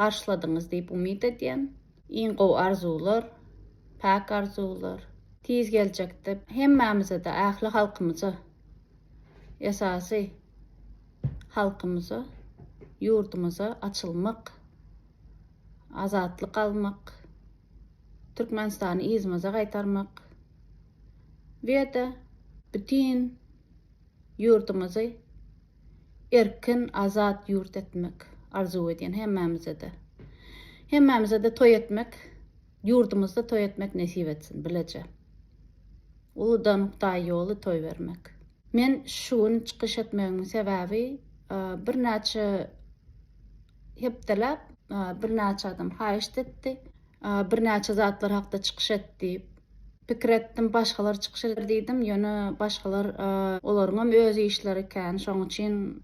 garşyladyňyz diýip umyt edýän. Iň gowy arzuwlar, päk arzuwlar. Tiz geljekde hemmämizede ähli halkymyza esasy halkymyza ýurdumyza açylmak azatlyk almak Türkmenistany yzymyza gaýtarmak we de bütin ýurdumyzy erkin, azat ýurt etmek arzuw edýän hemmämize-de. Hemmämize-de toý etmek, ýurdumyzda toý etmek nesip etsin, bileje. Uludan Hudaý ýoly toý bermek. Men şu gün çykyş etmegimiň sebäbi, birnäçe hepdeläp birnäçe adam haýyşt etdi. birnäçe zatlar hakda çykyş et diýip pikir etdim, başgalar çykyş eder diýdim, ýöne başgalar olaryňam öz işleri ekän, şoň üçin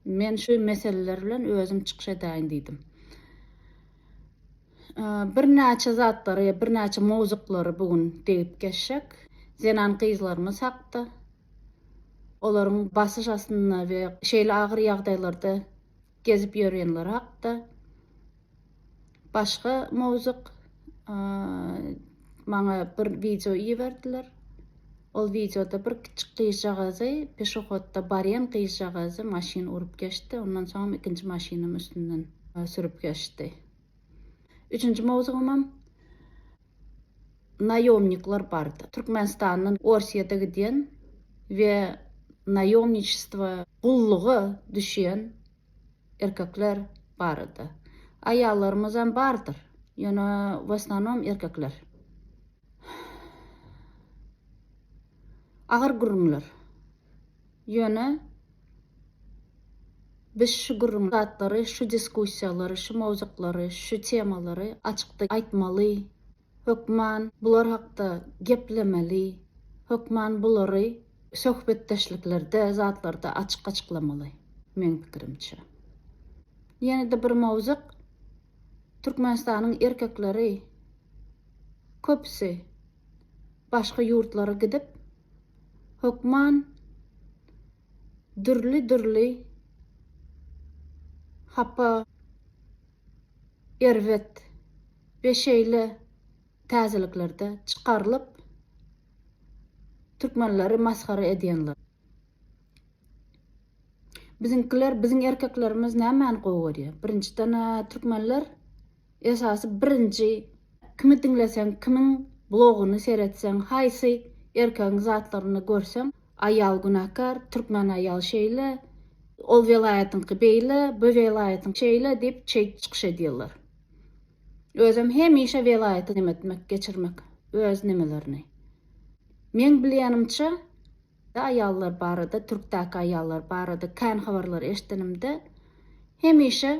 men şu meseleler bilen özüm çykyş edäýin diýdim. Birnäçe zatlary, birnäçe mowzuklary bu gün degip geçsek, zenan-gyzlarymyz hakda, olaryň basyş astynda we şeýle agyr ýagdaýlarda gezip ýörenler hakda, başga mowzuk maňa bir wideo iberdiler. Ol wideoda bir kiçi gyzjagazy, peşohodda barýan gyzjagazy maşyn urup geçdi, ondan soňam ikinji maşynam üstünden sürüp geçdi. Üçünji mowzugymam naýomnikler bardy. Türkmenistandan Orsyýada gidýän we naýomniçestwo, gulluga düşýän erkekler bardy. Aýallarymyz hem bardyr, ýöne w osnonom erkekler. Agyr gürrüňler. Ýöne biz şu gürrüňi, zatlary, şu diskussiýalary, şu mowzuklary, şu temalary açykda aýtmaly, hökman bular hakda geplemeli, hökman bulary söhbetdeşliklerde, zatlarda açyk açyklamaly, meň pikirimçe. Ýene-de bir mowzuk, Türkmenistanyň erkekleri köpüsi, Başga ýurtlara gidip, hökman dürli-dürli hapa, erbet we şeýle täzeliklerde çykarylyp, türkmenleri masgara edýänler. Biziňkiler, biziň erkeklerimiz nämäni gowy görýär? Birinjiden-ä, türkmenler Esasy birinji kimi diňleseň kimiň blogyny seretseň haýsy erkegiň zatlaryny görseň aýal günäkär türkmen aýal şeýle ol welaýatyňky beýle bu welaýatyň şeýle diýip çeýt çykyş edýärler özem hemişe welaýaty nemetmek geçirmek öz nemelerini meň bilýänimçe Ýa aýallar barada, türkdäki aýallar barada kän habarlar eşidenimde, hemişe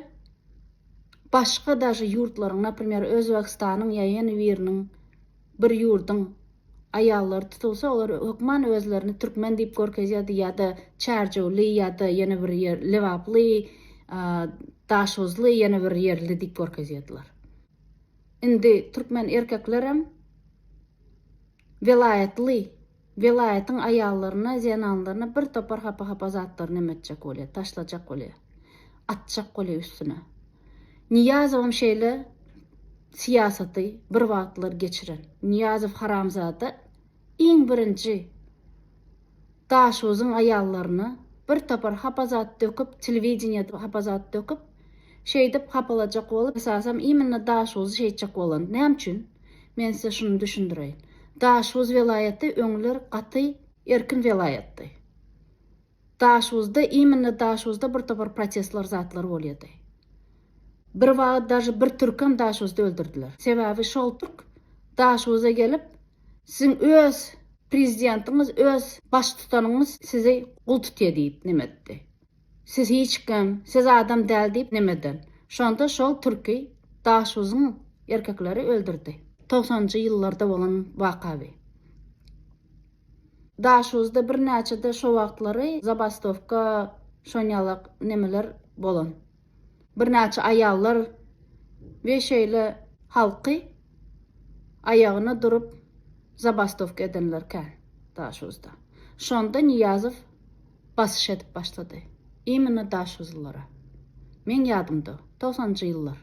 başga daže ýurtlaryň, naprimer, Özbegistanyň ýa ýene biriniň, bir ýurduň aýallary tutulsa, olar hökman özlerini türkmen diýip görkezýärdi ýa-da çärjewli ýa-da ýene bir ýer lebaply, daşhuzly, ýene bir ýerli diýip görkezýärdiler. Indi türkmen erkeklerem welaýatly. Welaýatyň aýallaryna, zenanlaryna bir topar hapa-hapa zatlary näme etjek bolýa, taşlajak bolýa, atjak bolýa üstüne. Nyýazowam şeýle syýasaty bir wagtlar geçiren. Nyýazow haramzada iň birinji Daşozuň aýallaryna bir topar hapa zat döküp, telewideniýede hapa zat döküp, Şeýdip hapalajak bolup, esasam iminna Daşguzy şeýtjek bolan. Näme üçin? Men size şuny düşündireýin. Daşguz welaýaty öňler gaty erkin welaýatdy. Daşguzda, iminna Daşguzda bir topar protestler zatlar bolýady. Bir wagyt daže bir türkem Daşguzda öldürdiler. Sebäbi şol türk Daşguza gelip, siziň öz prezidentiňiz, öz baştutanyňyz sizi gul tutýa diýip neme etdi. Siz hiç kim, siz adam däl diýip nemeden. Şonda şol türki Daşuzyň erkekleri öldürdi. Togsanjy ýyllarda bolan waka bi. Daşuzda birnäçede şo wagtlary zabastowka şonýalak nemeler bolan. Birnäçe aýallar we şeýle halky aýagyna durup zabastowka edenler kän Daşuzda. Şonda Nyýazow Basyş edip başlady. Immina Daşuzlylara. Meň ýadymda, togsanjy ýyllar.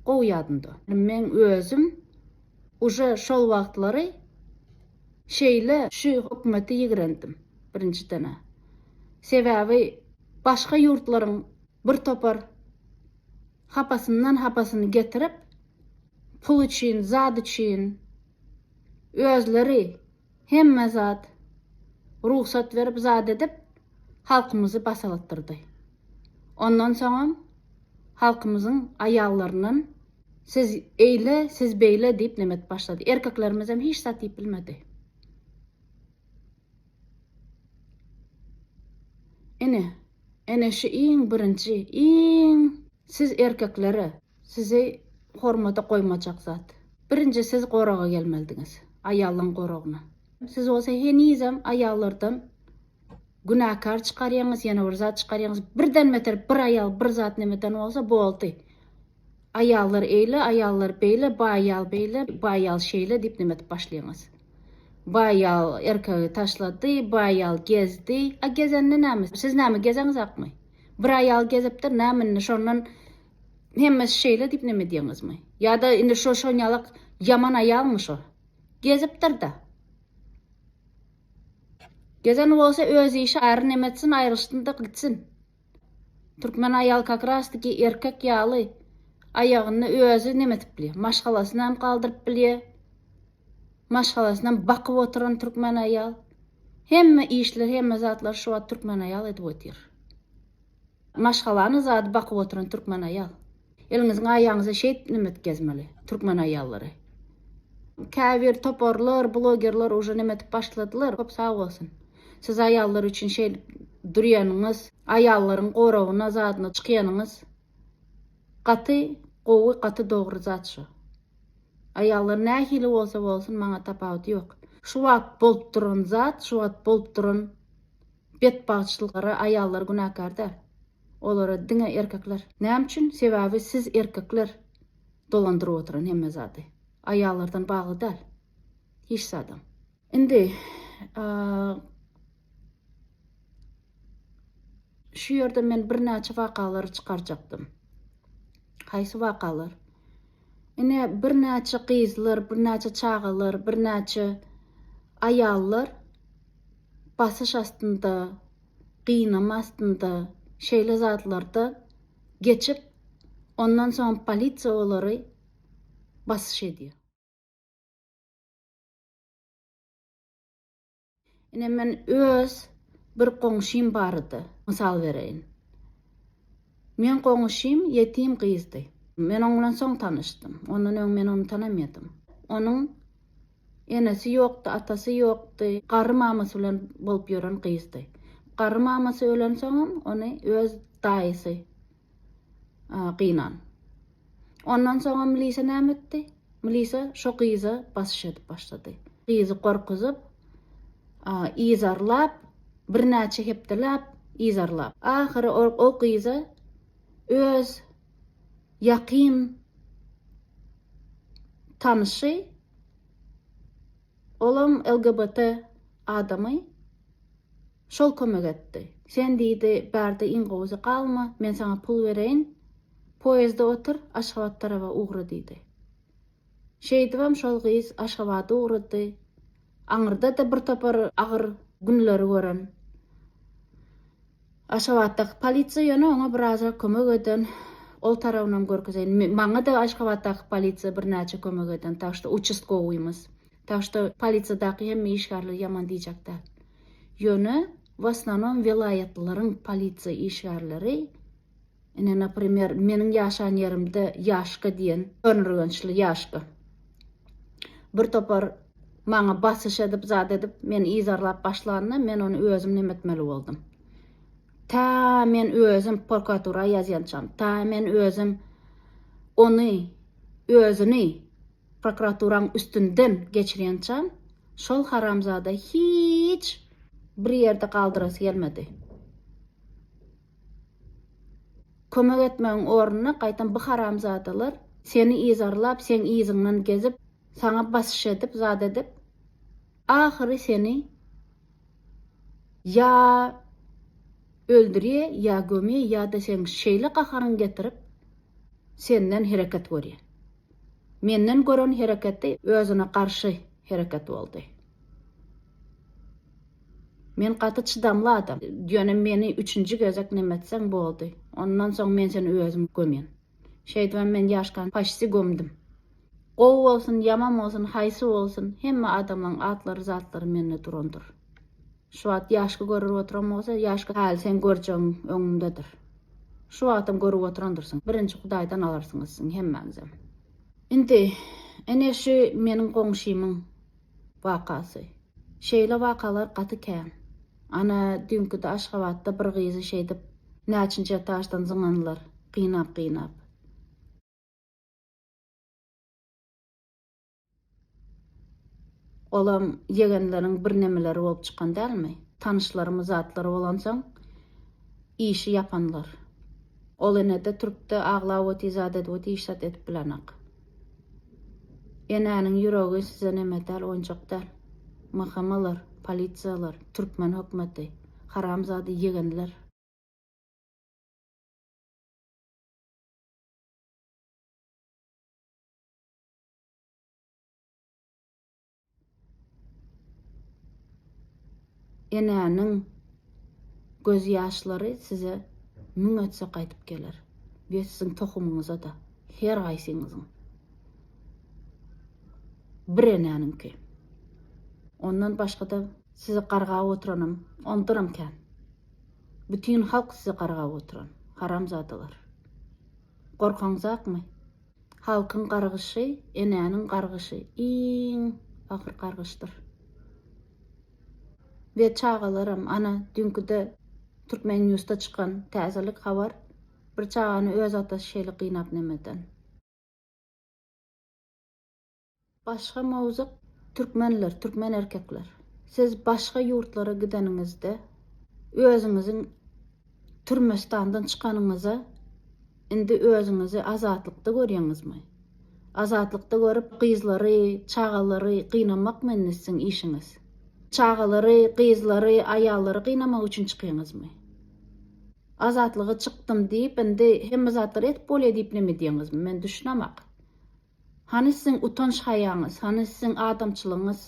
Gowy ýadymda. Meň özüm uje şol wagtlary şeýle şu hökümeti ýigrendim, birinjiden-ä. Sebäbi başga ýurtlaryň bir topar hapasyndan hapasyny getirip, pul üçin, zat üçin özleri Hemme zat rugsat berip zat edip halkymyzy basaltdyrdy. Ondan soňam halkymyzyň aýallaryndan siz eýle siz beýle diýip neme edip başlady. Erkeklerimizem hiç zat diýip bilmedi. Ine, ene şu iň birinji iň siz erkeklere. Sizi hormata goýmajak zat. Birinji siz goraga gelmelidiňiz. Aýalyň goragyna. Siz bolsa henizem aýallardan günäkär çykarýaňyz, ýene bir zat çykarýaňyz. Birden beter bir aýal bir zat nemeden bolsa boldy. Aýallar eýle, aýallar beýle, bu aýal beýle, bu aýal şeýle diýip neme edip başlaýaňyz. Bu aýal erkegi taşlady, bu aýal gezdi. A gezende näme? Siz näme gezeňizakmy? Bir aýal gezipdir, näme indi şondan Hemmesi şeýle diýip neme diýeňizmi? Ýa-da indi şo şonýalak ýaman aýalmy şo? Gezipdir-dä. Gezen bolsa öz işi ary neme etsin aýrylyşsyn-da gitsin. Türkmen aýal kakrastiki erkek ýaly aýagyny özi neme edip bilýär. Maşgalasyny hem galdyryp bilýär. Maşgalasyny hem bakyp oturan türkmen aýal. Hemme işleri hemme zatlary şu wagt türkmen aýal edip otyr. Maşgalanyň zady bakyp oturan türkmen aýal. Eliňiziň aýaňyza şeýt nemet gezmeli türkmen aýallary. Käbir toparlar, blogerler uje neme edip başladylar, köp sag bolsun. Siz aýallar üçin şeýdip durýanyňyz, aýallaryň goragyna zadyna çykýanyňyz gaty gowy, gaty dogry zat şu. Aýallar nähili bolsa bolsun maňa tapawudy ýok. Şu wagt bolup duran zat, şu wagt bolup duran Betbagtçylyklara aýallar günäkär däl. Olara diňe erkekler. Näme üçin? Sebäbi siz erkekler dolandyryp oturan hemme zady. Aýallardan bagly däl. Hiç zadam. Indi şu ýerde men birnäçe wakalary çykarjakdym. Haýsy wakalar? Ine birnäçe gyzlar, birnäçe çagalar, birnäçe aýallar basyş astynda, gynama astynda şeýle zatlarda geçip, ondan soň polisiýa olary basyş edýär. Ine, men öz bir goňşym barada mysal bereýin. Meň goňşym ýetim gyzdy. Men oň bilen soň tanyşdym. Ondan öň men ony tanamaýardym. Onuň Enesi ýokdy, atasy ýokdy. Garry mamasy bilen bolup ýören gyzdy. Garry mamasy ölensoňam, ony öz daýysy gynan. Ondan soňam milisiýa näme etdi? Milisiýa şo gyza basyş edip başlady. Gyzy gorkuzyp, yzarlap, birnäçe hepdeläp yzarlap. Ahyry o gyza öz ýakyn tanyşy, olam LGBT adamy, şol kömek etdi. Sen diýdi, bärde iň gowusy galma, men saňa pul bereýin, poýezde otur, Aşgabat taraba ugra diýdi. Şeýdibem şol gyz Aşgabada ugrady. Aňyrda-da birtopar agyr günleri gören. Aşgabatdaky polisiýa ýöne oňa birazrak kömek eden, ol tarabynam görkezeýin. Maňa-da Aşgabatdaky polisiýa birnäçe kömek eden, tak şto uçastkowyýmyz. Tak şto polisiýadaky hemme işgärleri ýaman diýjek däl. Ýöne w osnonom welaýatlaryň polisiýa işgärleri, Ine, naprimer, meniň ýaşan ýerimde Ýaşka diýen önürgençli Ýaşka bir topar maňa basyş edip, zat edip, meni yzarlap başlanda, men ony özüm näme etmeli boldum? Tä men özüm porkatura ýazýançam, tä men özüm ony, özüni prokuraturaň üstünden geçirýänçam, şol haramzada hiç bir ýerde galdyrasy gelmedi. Kömek etmegiň ornuna gaýtam bu haramzadalar seni yzarlap, seň yzyňdan gezip, saňa basyş edip, zat edip, ahyry seni ýa öldürýä, ýa gömýä, ýa-da seň şeýle gaharyňy getirip, senden hereket görýä. Menden gören hereketi özüne garşy hereket boldy. Men gaty çydamly adam. Ýöne meni üçünji gezek nemetseň boldy. Ondan soň men seni özüm gömýän. Şeýdibem men Ýaşkany paşsi gömdüm. Gowy bolsun, ýaman bolsun, haýsy bolsun, hemme adamlaň atlary, zatlary mende durandyr. Şu wagt Ýaşky görür oturan bolsa, Ýaşky häli seň görjegiň öňüňdedir. Şu wagtam görüp oturandyrsyň. Birinji Hudaýdan alarsyňyz siň hemmäňizem. Indi, ene şu meniň goňşymyň. Wakasy. Şeýle wakalar gaty kän. Ana, düýnkide Aşgabatda bir gyzy şeýdip näçinji etaždan zyňanlar, gynap-gynap. Olam ýegenleriň birnemeleri bolup çykan dälmi? Tanyşlarymy zatlary bolansoň, işi ýapanlar. Ol ene-de, türk-de aglap otyzat edip oty, iş-zat edip bilenok. Enäniň ýüregi size neme däl oýunjak däl. MHM-lar, polisiýalar, türkmen hökmeti, haramzada ýegenler. Enäniň göz ýaşlary size müň etse gaýdyp geler we siziň tohumyňyza-da, her gaýsyňyzyň. Bir enäniňki. Ondan başga-da sizi gargap oturanam ondanam kän. Bütin halk sizi gargap oturan, haramzadalar. Gorkaňyzakmy? Halkyň gargyşy, enäniň gargyşy iň agyr gargyşdyr. We çagalaram, ana, düňküde Türkmennews-da çykan täzelik habar, bir çagany öz atasy şeýle gynap nemeden. Başga mowzuk Türkmenler, türkmen erkekler. Siz başga ýurtlara gideniňizde özüňiziň Türmestandan çykanyňyza indi özüňizi azatlykda görýäňizmi? Azatlykda görüp gyzlary, çagalary gynamakmy indi siziň işiňiz? Çagalary, gyzlary, aýallary gynamak üçin çykýaňyzmy? Azatlyga çykdym diýip indi hemme zatlary edip bolýar diýip neme edýäňizmi? Men düşünemak. Hany siziň utanç-haýaňyz, hany siziň adamçylygyňyz?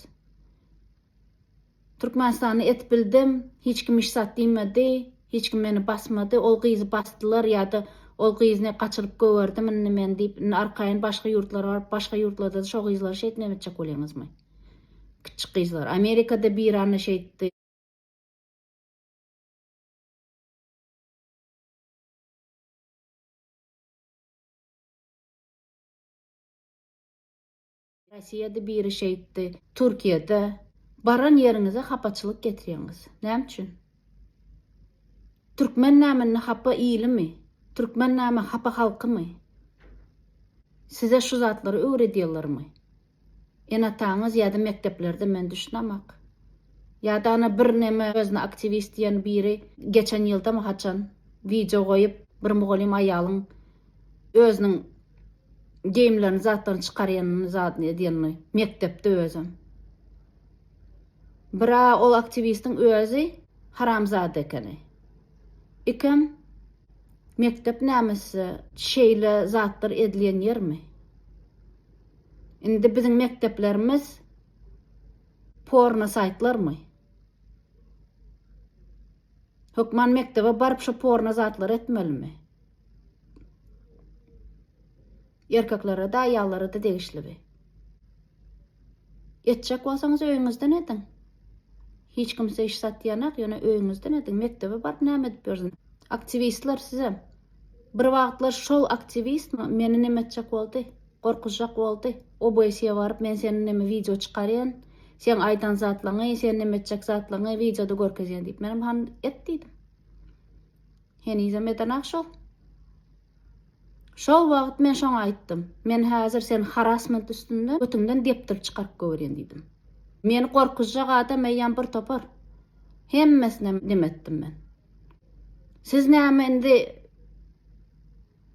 Türkmenistanda et bildim, hiç kim işzat diýmedi, hiç kim meni basmady, ol gyzy basdylar ýa-da ol gyzyny gaçyryp gögerdim indi men diýip, indi arkaýyn başga ýurtlara baryp, başga ýurtlarda-da şo gyzlary şeýt näme etjek bolýaňyzmy? Kiçjik gyzlar. Amerikada bir anna şeýtdi. Rossiýada biri şeýtdi, Türkiýede. Baran ýeriňize hapaçylyk getirýäňiz. Näme üçin? Türkmen näme ne hapa ilimi? Türkmen näme hapa halkymy? Size şu zatlary öwredýärlermi? Enataňyz ýa-da mekdeplerde men düşünemak. Ýa-da ana bir neme özüne aktiwist diýen biri geçen ýyldamy haçan wideo goýup bir mugallym aýalyň özüniň geýimlerini zatlaryny çykarýanyny zadyny edýänini mekdepde özem. Bir a ol aktiwistiň özi haramzada ekeni. Ikem mekdep näme size şeýle zatlar edilýän ýermi? Indi biziň mekdeplerimiz porno saýtlarmy? Hökman mekdebe baryp şu porno zatlary etmelimi? Erkeklere-de, aýallara-da degişli bi. Etjek bolsaňyz öýüňizden ediň. Hiç kimse iş satýanak, ýöne öýüňizden ediň. Mekdebe baryp näme edip ýörsün? Aktiwistler sizem. Bir wagtlar şol aktiwistmi meni neme etjek boldy? Gorkuzjak boldy. OBS-e baryp men seni neme wideo çykarýan, seň aýdan zatlaňy, sen neme etjek zatlaňy wideoda görkezýän diýip. Menem han et diýdim. Henizem edenak şol. Şol wagt men şoňa aýtdym. Men häzir sen harasment üstünde götüňden depdirip çykaryp gowerýän diýdim. Meni gorkuzjak adam eýýäm bir topar. Hemmesine neme etdim men. Siz näme indi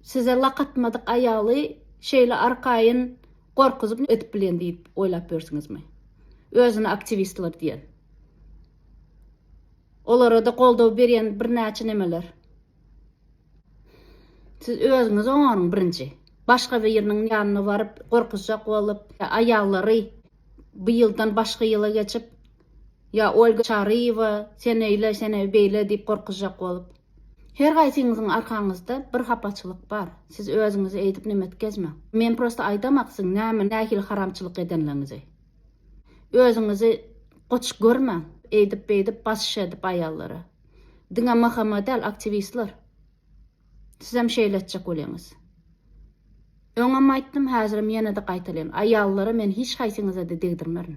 size lak atmadyk aýaly şeýle arkaýyn gorkuzyp ne edip bilýän diýip oýlap ýörsiňizmi? Özüne aktiwistler diýen. Olara-da goldaw berýän birnäçe nemeler. Siz özüňiz oňaryň birinji. Başga biriniň ýanyna baryp, gorkuzjak bolup, ýa aýallary bu ýyldan başga ýyla geçip, ýa Olga Çaryýewa, sen öýle, sen beýle diýip gorkuzjak bolup. Her gaýsyňyzyň arkaňyzda bir hapaçylyk bar. Siz özüňizi eýdip nem etkezmäň. Men prosta aýdamak siziň näme, nähili haramçylyk edenligiňizi. Özüňizi goç görmäň. Eýdip-beýdip basyş edip aýallara. Diňe Mahammad däl aktiwistler. Sizem şeýle etjek bolýaňyz. Öňem aýtdym, häzirem ýene-de gaýtalaýyn. Aýallara men hiç haýsyňyza-da degdirmerin.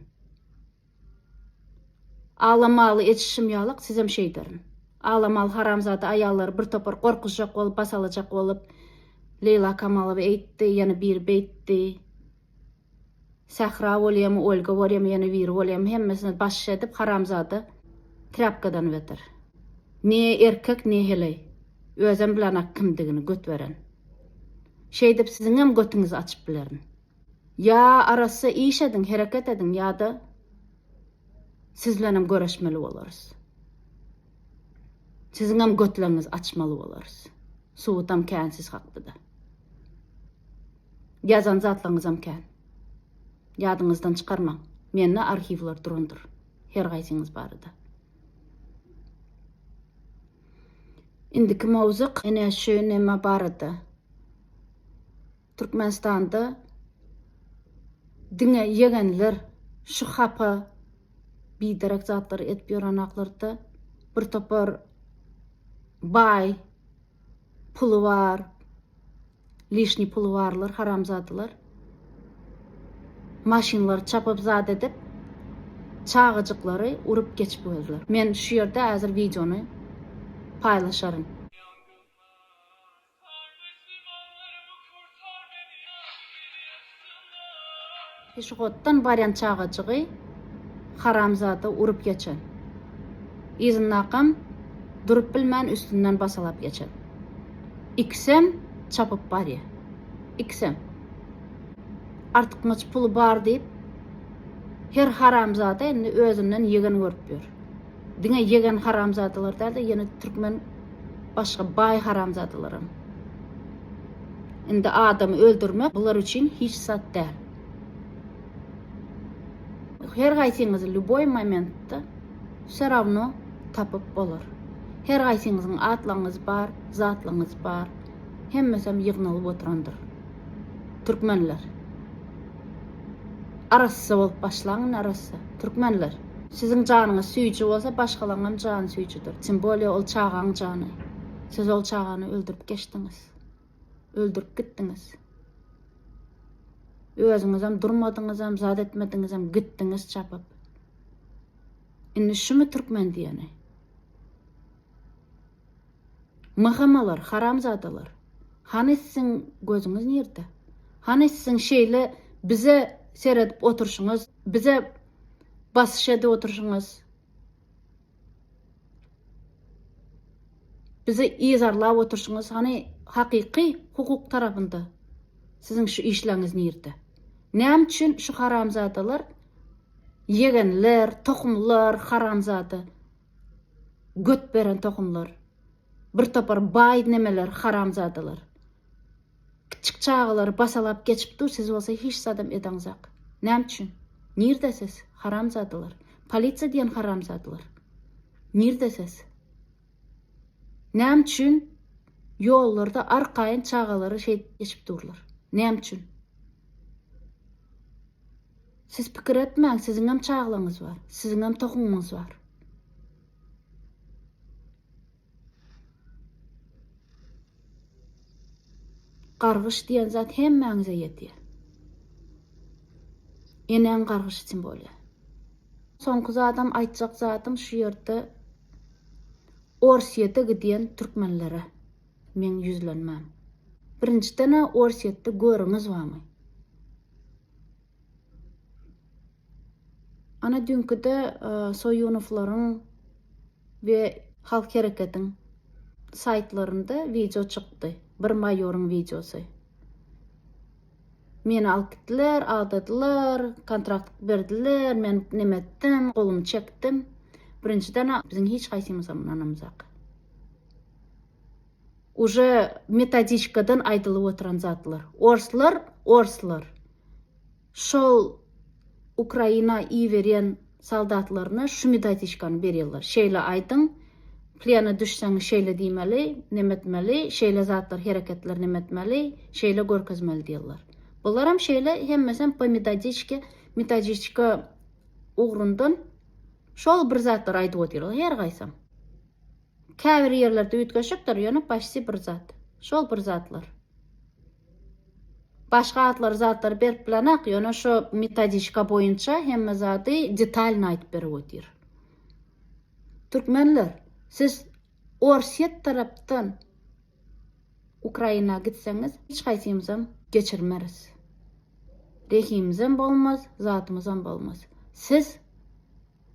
Alamaly etişim ýalak sizem şeýderin. Alamaly haramzada aýallary bir topar gorkuzjak bolup, basalajak bolup, Leýla Kamalowa eýtdi, ýene biri beýtdi. Sähra bolýamy Olga bolýamy ýene biri bolýamy hemmesine baş edip haramzada trapkadan beter. Ne erkek ne heleý. Özem bilenak kimdigini göt beren. Şeýdip siziňem götüňizi açyp bilerin. Ýa arassa iş ediň hereket ediň ýada sizlenem göreşmeli bolarys. Siziňem götleňizi açmaly bolarys. Subutam kän siz hakdada. Ýazan zatlaryňyzam kän. Ýadyňyzdan çykarmaň. Mende arhiwler durandyr. Her gaýsyňyz barada. Indiki mowzuk ene şu neme barada. Türkmenistanda diňe ýegenler şu hapa biderek zatlary edip ýörenaklarydda bir topar baý Puly bar. Lişni puly barlar haramzadylar. Maşynlary çapyp zat edip çagajyklary urup geçip gözler. Men şu ýerde hazir wideony paýlaşaryn. Peşehoddan barýan çagajygy haramzada urup geçen. Yzyndakam durup bilmän üstünden basalap geçen. Ikisem çapyp barýar. Ikisem. Artykmaç puly bar diýip, her haramzada indi özünden ýegen görüp ýör. Diňe ýegen haramzadalar dälde ýene türkmen başga baý haramzadalaram. Indi adamy öldürmek bular üçin hiç zat däl. Her gaýsyňyzy lýuboý momentde wse rawno tapyp bolar. Her gaýsyňyzyň atlaňyz bar, zatlaňyz bar. Hemmesem ýygnalyp oturandyr. Türkmenler. Arassa bolup başlaň indi arassa. Türkmenler. Siziň janyňyz süýji bolsa başgalaryňam jany süýjüdir. Tym bolýa ol çagaň jany. Siz ol çagany öldürip geçdiňiz. Öldürip gitdiňiz. Özüňizem durmadyňyzam, zat etmediňizem gitdiňiz çapyp. Indi şumy türkmen diýeni? Myhamalar, haramzadalar! Hany siziň gözüňiz nirde? Hany siziň şeýle bize seredip oturşyňyz, bize basyş edip oturşyňyz, bizi yzarlap oturşyňyz, hany hakyky hukuk tarapynda siziň şu işleriňiz nirde? Näme üçin şu haramzadalar, ýegenler, tohumlar, haramzada! Göt beren tohumlar. Bir topar baý nemeler haramzadalar. Kiçjik çagalary basalap geçip dur siz bolsa hiç zadam edaňzak. Näme üçin? Nirde siz? Haramzadalar. Polisiýa diýen haramzadalar. Nirde siz? Näme üçin ýollarda arkaýyn çagalary şeýdip geçip durlar? Näme üçin? Siz pikir etmäň siziňem çaglaňyz bar, siziňem tohumyňyz bar. Gargyş diýen zat hemmäňize ýetýär. Enäň gargyş üçin bolýar. Soňky zadam aýtjak zadym şu ýerde Orsýete gidýän türkmenlere meň ýüzlenmäm. Birinjiden-ä Orsýetde görüňiz barmy? Ana dünküde Soýunowlaryň we Halk Hereketiň saýtlarynda wideo çykdy. Bir maýoryň wideosy. Meni alyp gitdiler, aldadylar, kontrakt berdiler, men neme etdim, golumy çekdim. Birinjiden-ä biziň hiç haýsymyzam ynanamzak. Uje metodiçkadan aýdylyp oturan zatlar. Orslar orslar şol Ukraina iberýän soldatlaryna şu metodiçkany berýärler. Şeýle aýdyň, plena düşseň şeýle diýmeli, nemetmeli, şeýle zatlar hereketler nemetmeli, şeýle görkezmeli diýerler. Bularam şeýle hemmesem po metodiçke metodiçka ugrundan şol bir zatlar aýdyp otyrlar her gaýsam. Käbir ýerlerde üýtgeşikdir, ýöne başsi bir zat. Şol bir zatlar. Başga atlary, zatlary berip bilenok, ýöne şo metodişka boýunça hemme zady detalny aýdyp berip otyr. Türkmenler, siz Orsýet tarapdan Ukraina gitseňiz, hiç haýsymyzam geçirmeris. Rehimimizem bolmaz, zatymyzam bolmaz. Siz.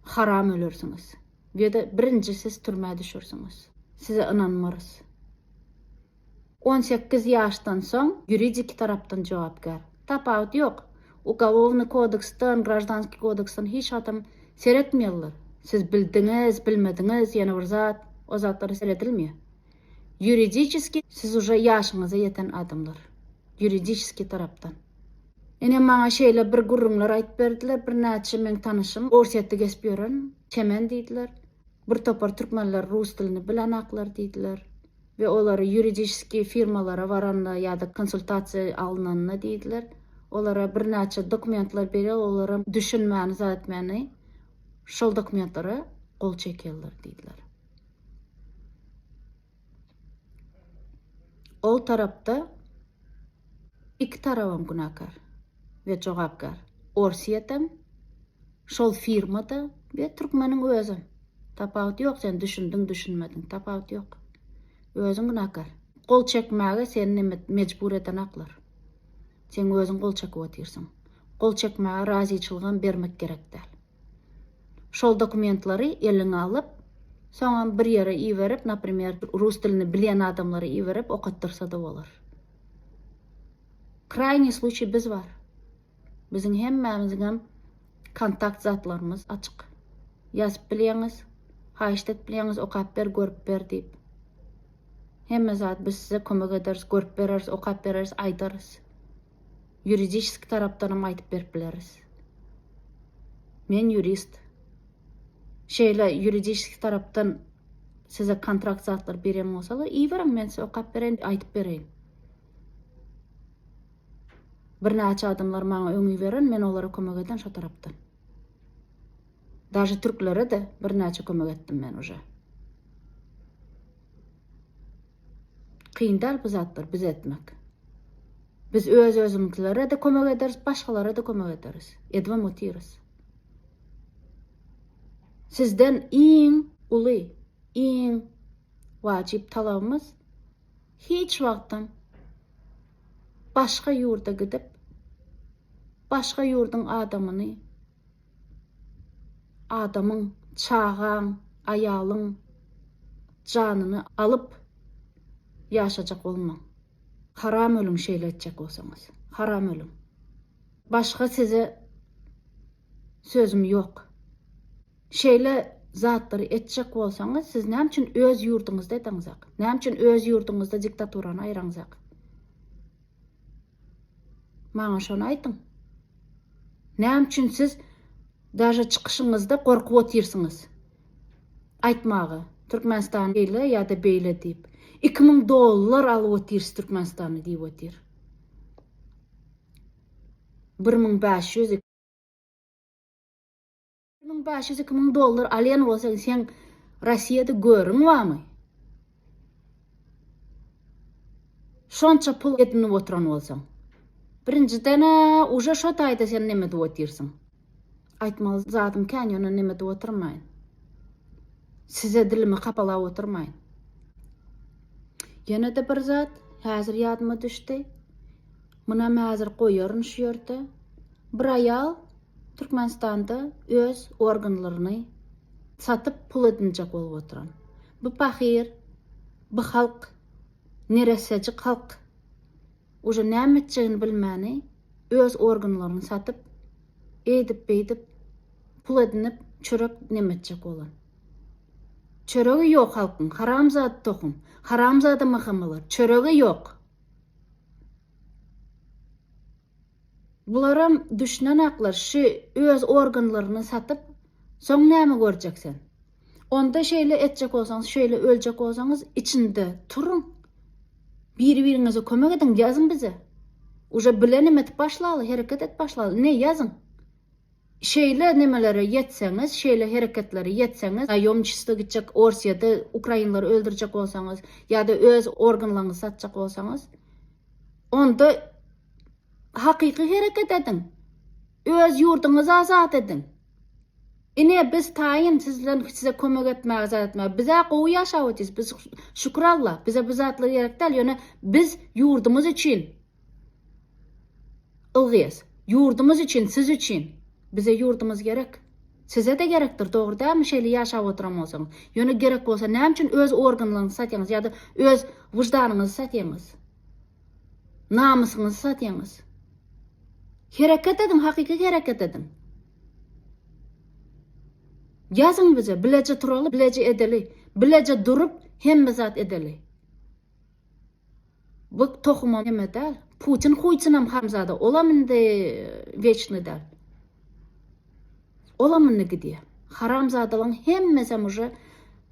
Haram ölersiňiz. Ýa-da birinji siz türmä düşersiňiz. Size ynanmarys. On sekiz ýaşdan soň ýuridiki tarapdan jogapkär. Tapawut ýok. Ugolownyý kodeksden, graždanskiý kodeksden hiç adam seretmeýärler. Siz bildiňiz, bilmediňiz, ýene bir zat, o zatlara seredilmeýär. Ýuridiçeskiý siz uje ýaşyňyza ýeten adamlar. Ýuridiçeskiý tarapdan. Ine, maňa şeýle bir gürrüňler aýdyp berdiler, birnäçe meň tanyşym Orsýetde gezip ýören, Çemen diýdiler. Bir topar türkmenler rus dilini bilenaklar diýdiler we olary ýuridiskiý firmalara baranda ýa-da konsultasiýa alnanda diýdiler, olara birnäçe dokumentler berýär, olaram düşünmäni, zat etmäni şol dokumentlara gol çekýärler diýdiler. Ol tarapda iki tarabam günäkär we jogapkär. Orsýetem, şol firma-da we türkmeniň özem. Tapawut ýok sen düşündiň düşünmediň tapawut ýok. Özüň günäkär. Gol çekmäge seni mejbur eden aklar. Sen özüň gol çekip otyrsyň. Gol çekmäge razyçylygam bermek gerek däl. Şol dokumentlary eliňe alyp, soňam bir ýere iberip, naprimer, rus dilini bilýän adamlara iberip okatdyrsada bolar. Kraýnyý sluçýy biz bar. Biziň hemmämiziňem kontakt zatlarymyz açyk. Ýazyp bilýäňiz, haýyşt edip bilýäňiz, okap ber, görüp ber diýip. Hemme zat biz size kömek ederis, görüp bereris, okap bereris, aýdarys. Ýuridiski tarapdanam aýdyp berip bileris. Men ýurist. Şeýle ýuridiski tarapdan size kontrakt zatlary berýän bolsalar, iberiň, men size okap bereýin, aýdyp bereýin. Birnäçe adamlar maňa öňi beren, men olara kömek eden şo tarapdan. Daže türklere-de birnäçe kömek etdim men uje. Kyn däl bu zatlary biz etmek. Biz öz özümiklere-de kömek ederis, başgalara-da kömek ederis. Edibem otyrys. Sizden iň uly, iň wajyp talabymyz hiç wagtam başga ýurda gidip, başga ýurduň adamyny Adamyň, çagaň, aýalyň janyny alyp ýaşajak bolmaň. Haram ölüň şeýle etjek bolsaňyz. Haram ölüň. Başga size sözüm ýok. Şeýle zatlary etjek bolsaňyz siz näme üçin öz ýurduňyzda edeňzak? Näme üçin öz ýurduňyzda diktaturany aýraňzak? Maňa şony aýtyň. Näme üçin siz daže çykyşyňyzda gorkup otyrsyňyz aýtmaga Türkmenistan şeýle ýa-da beýle diýip. Iki müň dollar alyp otyrys Türkmenistanda diýip otyr. Bir müň bäş ýüz. Müň bäş ýüz iki müň dollar alýan bolsaň seň Rossiýada görüň bamy? Şonça pul edinip oturan bolsaň. Birinjiden uje şo taýda sen neme edip otyrsyň? Aýtmaly zadym kän ýöne neme edip otyrmaýyn. Size dilimi kapalap otyrmaýyn. Ýene-de bir zat häzir ýadyma düşdi. Munam häzir goýaryn şu ýerde. Bir aýal Türkmenistanda öz organlaryny satyp pul edinjek bolup oturan. Bu pahyr, bu halk, neressäjik halk uje näme etjegini bilmäni öz organlaryny satyp, eýdip beýdip pul edinip çörek neme etjek bolan. Çöregi ýok halkyň, haramzada tohum, haramzada mahamylar, çöregi ýok. Bularam düşnenaklar şü öz organlaryny satyp soň näme görjek sen onda şeýle etjek bolsaňyz şeýle öljek bolsaňyz içinde turuň biri biriňize kömek ediň ýazyň bize uje bilenim edip başlaly hereket et başlaly ine ýazyň. Şeýle nemelere ýetseňiz, şeýle hereketlere ýetseňiz, naýomçistwo gitjek Orsiýada ukrainleri öldürjek bolsaňyz ýa-da öz organlaňyzy satjak bolsaňyz, onda hakyky hereket ediň, öz ýurduňyzy azat ediň. Ine, biz taýyn siz bilen size kömek etmäge zat etmäge. Biz-ä gowy ýaşap otyrys, biz şükür Allah, bize bu zatlar gerek däl, ýöne biz ýurdumyz üçin, Ilgiýes, Ýurdumyz üçin, siz üçin. Bize ýurdumyz gerek. Size-de gerekdir, dogry dälmi, şeýle ýaşap oturan bolsaňyz? Ýöne gerek bolsa, näme üçin öz organlaryňyzy satýaňyz ýa-da öz wyždanyňyzy satýaňyz? Namysyňyzy satýaňyz? Hereket ediň, hakyky hereket ediň. Ýazyň bize, bileje turaly, bileje edeli. Bileje durup, hemme zat edeli. Bu tohumam neme dal. Putin huyçinam haramzada olam indi weçni dal. Olam indi gidýä. Haramzadalaň hemmesem uje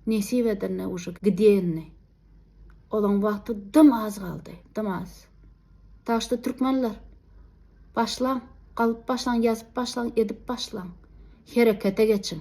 nesip edende uje gidýä indi. Olaň wagty dym az galdy. Dym az. Taşda türkmenler başlaň galyp başlaň ýazyp başlaň edip başlaň. Herekete geçiň.